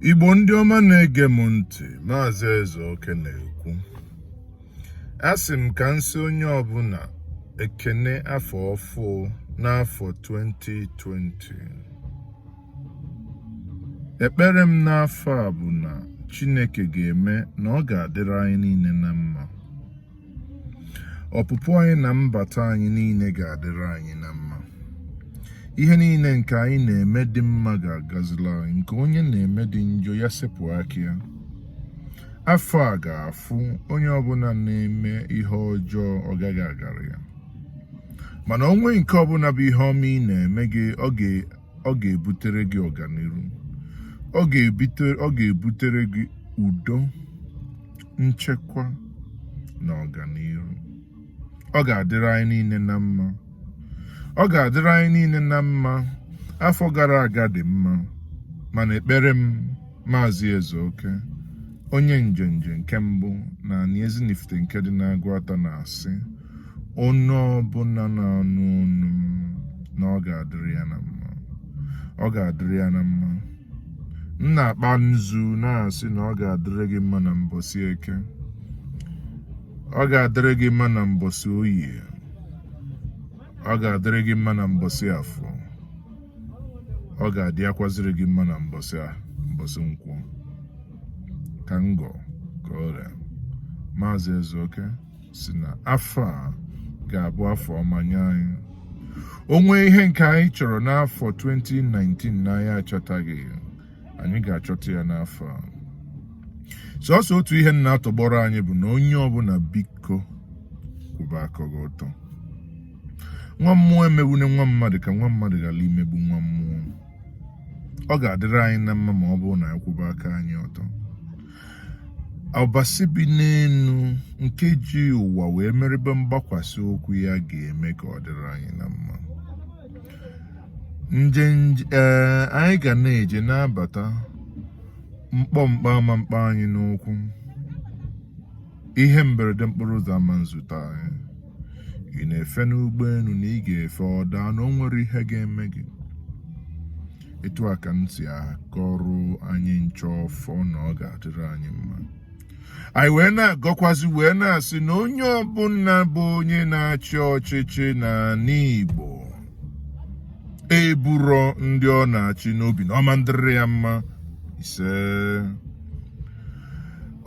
igbo ndị ọma na-ege m ntị maazị Ezeoke na-ekwu asị m ka m sị onye ọbụna ekene afọ ọfụụ n'afọ 2020 ekpere m n'afọ a bụ na chineke ga-eme na ọ ga-adịrị anyị niile na mma ọpụpụ anyị na mbata anyị niile ga-adịrị anyị na mma ihe niile nke anyị na-eme dị mma ga-agazila anyị nke onye na-eme dị njọ ya sepụ aka ya afọ a ga-afụ onye ọbụna na-eme ihe ọjọọ ọ gaghị agara ya mana o nwee nke ọbụna bụ ihe ọma ị na-eme gị ọ ga-ebutere gị ọganiru ọ ga-ebutere gị udo nchekwa na ọganiru ọ ga-adịrị anyị niile na mma ọ ga-adịrị anyị niile na mma afọ gara aga dị mma mana ekpere m maazị Ezeoke onye njenje nke mbụ na anị Ezinifite nke dị n'Agụata na-asị onye ọbụna na-anụ onu m na ọ ga-adịrị ya na mma ọ ga-adịrị ya na mma m na-akpa nzu na-asị na ọ ga-adịrị gị mma na mbọsị eke ọ ga-adịrị gị mma na mbọsị oye ọ ga-adịrị gị mma na mbọsị afọ ọ ga-adịkwazịrị gị mma na mbọsị nkwọ ka m gọọ ka o ree maazị Ezeoke sị na afọ a ga-abụ afọ ọma nye anyị o nwee ihe nke anyị chọrọ n'afọ 2019 na anyị achọtaghị anyị ga-achọta ya n'afọ a sọsọ otu ihe m na-atọgbọrọ anyị bụ na onye ọbụna biko kwụba aka gị ọtọ nwa mmụọ emegbune nwa mmadụ ka nwa mmadụ ghara imegbu nwa mmụọ ọ ga-adịrị anyị na mma ma ọ bụrụ na anyị kwụba aka anyị ọtọ Ọbasi bi n'enu nke ji ụwa wee mere ebe mgbakwasị ụkwụ ya ga-eme ka ọ dịrị anyị na mma nje ee anyị ga na-eje na-abata mkpọmkpa ama mkpa anyị n'ụkwụ ihe mberede n'okporo ụzọ ama nzute anyị ị na-efe n'ụgbọenu na ị ga-efe ọ daa na o nwerọ ihe ga-eme gị etu a ka m si agọrọ anyị ncha ọfọ na ọ ga-adịrị anyị mma anyị wee na-agọkwazi wee na-asị na onye ọbụna bụ onye na-achị ọchịchị n'anị Igbo eburo ndị ọ na-achị n'obi na ọ ma ndịrị ya mma isee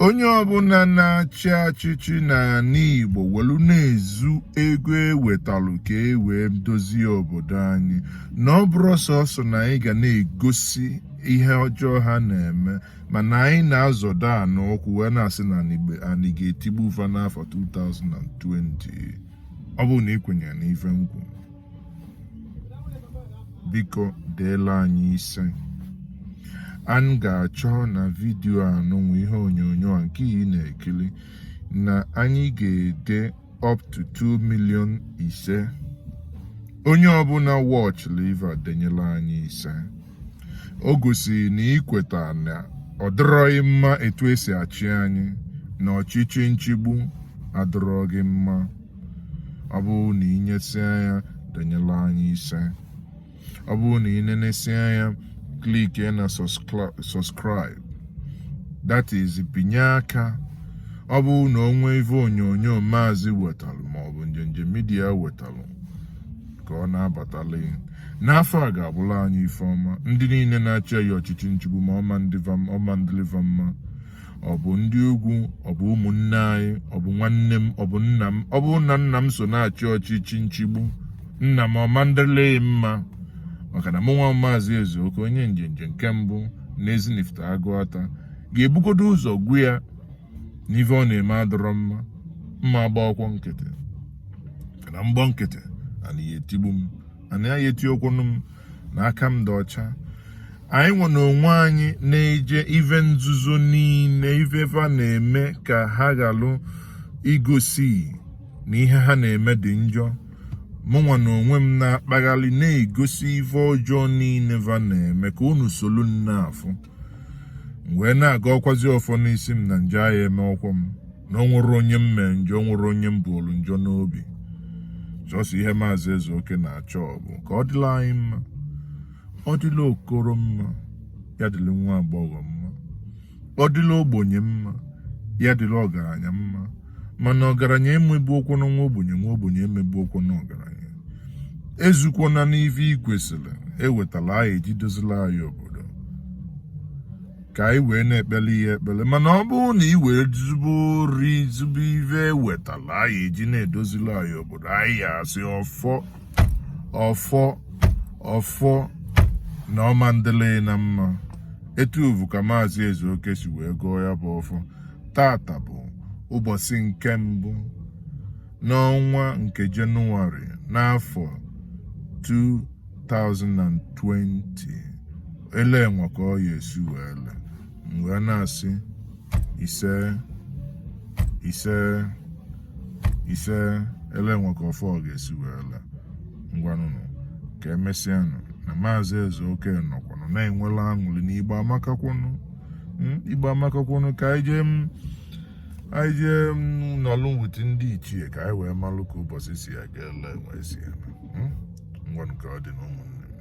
onye ọbụla na-achị achịchị n'ala Igbo welu na-ezu ego ewetalụ ka e wee dozie obodo anyị na ọ bụrọ sọsọ na anyị ga na-egosi ihe ọjọọ ha na-eme mana anyị na-azọdo a n'ụkwụ wee na-asị na anyị ga-etigbu va n'afọ 2020 ọ bụrụ na ị kwenyere n'ife m kwu biko deela anyị ise anyị ga-achọ na vidiyo a nụnwa ihe onyonyo a nke ị na-ekili na anyị ga-ede up to 2 million ise onye ọbụla watch live denyela anyị ise o gosiri na i kweta na ọ dịrọghị mma etu e si achị anyị na ọchịchị nchigbu adịrọghị mma ọ bụrụ na ị nyesịa ya denyela anyị ise ọ bụrụ na ị nenesịa ya click na subscribe that is binye aka ọ bụrụ na o nwee ife onyonyo maazị wetalụ maọbụ njenje midia wetalụ ka ọ na-abatala ghị n'afọ a ga-abụla anyị ife ọma ndị niile na-achị anyị ọchịchị nchigbu ma ọ ma ndịlị va mma ọ bụ ndị ugwu ọ bụ ụmụnne anyị ọ bụ nwanne m ọ bụ nna m ọ bụrụ na nna m so na-achị ọchịchị nchigbu nna m ọ ma ndịlị ghị mma maka na mụ nwa maazị ezeoke onye njenje nke mbụ na Ezinifite Aguata ga-ebugodo ụzọ gwa ya na ife ọ na-eme adọrọ mma m ma agbakwọ nkịtị na m gba nkịtị ana ya etigbu m ana ya eti okwunu m na aka m dị ọcha anyị nwa na onwe anyị na-eje ive nzuzo niile ive va na-eme ka ha ghalụ igosi na ihe ha na-eme dị njọ mụnwa na onwe m na-akpaghalị na-egosi ive ọjọọ niile va na-eme ka unu solu na-afụ m wee na-agọkwazi ọfọ n'isi m na njọ agha emekwọ m na o nwerọ onye m mee njọ o nwerọ onye m buolu njọ n'obi sọsọ ihe maazị ezeoke na-achọ bụ ka ọ dịla anyị mma ọ dịla okoro mma ya dịla nwa agbọghọ mma ọ dịla ogbenye mma ya dịla ọgaranya mma mana ọgaranya emegbukwọna nwa ogbenye nwa ogbenye emegbukwọna ọgaranya ezukwana n'ife ị kwesịrị ewetala anyị eji dozila anyị obodo ka anyị wee na-ekpele ghị ekpele mana ọ bụrụ na ị wee zube ori zube ife e wetala anyị eji na-edozila anyị obodo anyị ya asị ọfọ ọfọ ọfọ na ọ ma ndịlị nya mma etu avụ ka maazị ezeoke si wee gọọ ya bụ ọfọ taata bụ ụbọsị nke mbụ n'ọnwa nke Jenụwarị n'afọ 2020 ele enwe ka ọ ya esi wee le mgbe a na-asị ise ise ise ele enwe ka ọfọ ọ ga-esi wee le ngwanụnụ ka emesịanụ na maazị eze oke nọkwanụ na-enwela aṅụlị n'Igbo amakakwanụ hmm, Igbo amakakwanụ ka anyị jee hmm, anyị jee hmm, nọlụ with ndị ichie ka anyị wee malụ ka ụbọsị si aga ele wee sị ngwanụ ka ọ dị n'ụmụnne